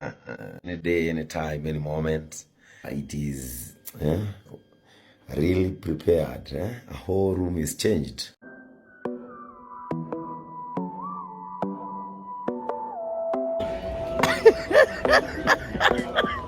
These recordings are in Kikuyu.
any day, any time, any moment. It is eh, really prepared. Eh? A whole room is changed.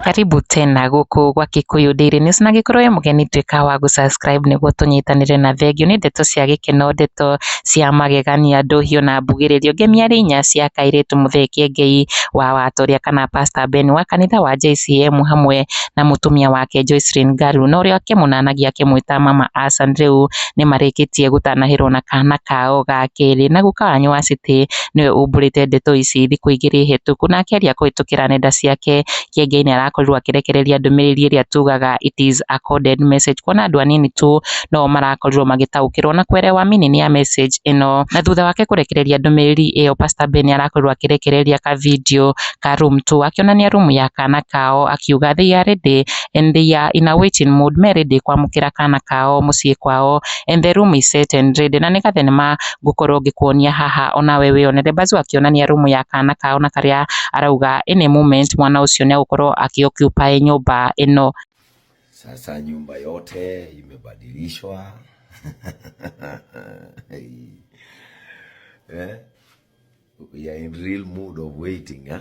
karibu tena gũkũ gwa Kikuyu Daily News na angĩkorwo wĩ mũgeni tuĩka wa gũ subscribe nĩguo tũnyitanĩre na thengiũ nĩ ndeto cia gĩkeno ndeto cia magegania ndũhiũ na mbugĩrĩrio ngemiarĩ inya cia kairĩtu Muthee Kiengei wa Watoria kana Pastor Ben wa kanitha wa JCM hamwe na mũtumia wake Joycelyn Ngaru na ũrĩa akĩmũnanagia akĩmwĩta mama Asan rĩu nĩmarĩkĩtie gũtanahĩrwo na kana kao ga kerĩ na guka wanyu wa city nĩwe umbũrĩte ndeto ici thikũ igĩrĩ hĩtũku na akĩaria kũhĩtũkĩra nenda ciake kĩengeinĩ arakorirwo akĩrekereria ndũmĩrĩri ĩrĩa tugaga it is a coded message kuona andũ anini tu no o marakorirwo magĩtaũkĩrwo na kwerewa meaning ya message ĩno. Na thutha wake kũrekereria ndũmĩrĩri ĩyo Pastor Ben nĩarakorirwo akĩrekereria ka video ka room tour akĩonania room ya kana kao akiuga they are ready and they are in a waiting mood me ready kwamũkĩra kana kao mũciĩ kwao and the room is set and ready na nĩ gathenema ngũkorwo ngĩkuonia haha ona we wĩyonere. Bazu akĩonania room ya kana kao na karĩa arauga in a moment mwana ũcio nĩ agũkorwo agĩ occupy nyũmba ĩno. Sasa nyumba yote imebadilishwa eh? We are in real mood of waiting eh?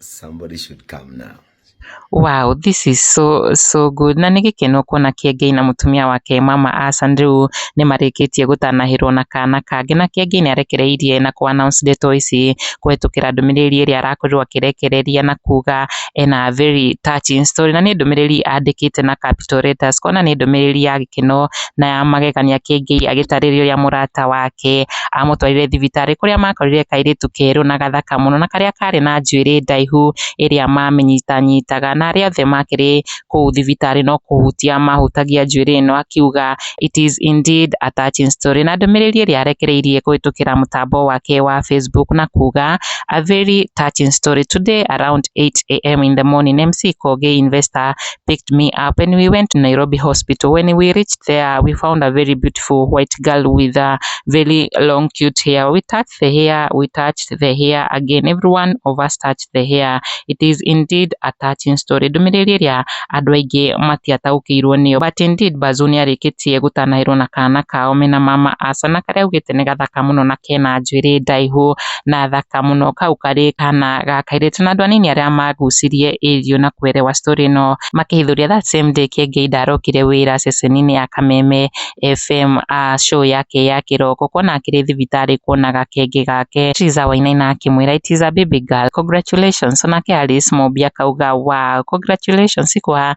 Somebody should come now. Wow, this is so so good. Na nĩ gĩkeno kuona Kĩengei na mũtumia wake mama Asan rĩu nĩ marĩkĩtie gũtanahĩrwo na kana kangĩ na Kĩengei nĩ arekereirie na kũ announce ndeto ici kũhetũkĩra ndũmĩrĩri ĩrĩa arakorirwo akĩrekereria na kuga ena very touching story na nĩ ndũmĩrĩri andĩkĩte na capital letters kuona nĩ ndũmĩrĩri ya gĩkeno na ya magegania Kĩengei agĩtarĩria ũrĩa mũrata wake Aamũtwarire thibitarĩ kũrĩa maakorire kairĩtu kerũ na gathaka mũno na karĩa kaarĩ na njuĩrĩ ndaihu ĩrĩa maamĩnyitanyitaga, na arĩa othe maakĩrĩ kũu thibitarĩ no kũhutia maahutagia njuĩrĩ ĩno, akiuga, It is indeed a touching story. Na ndũmĩrĩri ĩrĩa arekereirie kũhĩtũkĩra mũtambo wake wa Facebook na kuuga, A very touching story. Today around 8am in the morning, MC Kogi investor picked me up and we went to Nairobi hospital. When we reached there, we found a very beautiful white girl with a very long cute hair. We touched the hair, we touched the hair again. Everyone of us touched the hair. It is indeed a touching story. Ndũmĩrĩri ĩrĩa andũ aingĩ matiataũkĩirwo nĩyo. But indeed Bazu nĩarĩkĩtie gũtanahĩrwo na kana kao mena mama Asa na karĩa augĩte nĩ gathaka mũno na kena njuĩrĩ ndaihu. na thaka mũno kau karĩ kana ga kairĩtu na andũ anini arĩa magucirie ĩriũ na kuelewa story ĩno makĩhithũria that same day Kĩengei ndarokire wĩra ceceni-inĩ ya Kameme FM uh, show yake ya kĩroko kuona akĩrĩ thibitarĩ kuona gakenge gake Triza Wainaina akĩmwĩra it is a baby girl congratulations onake Alice Mũmbi akauga wow congratulations kwa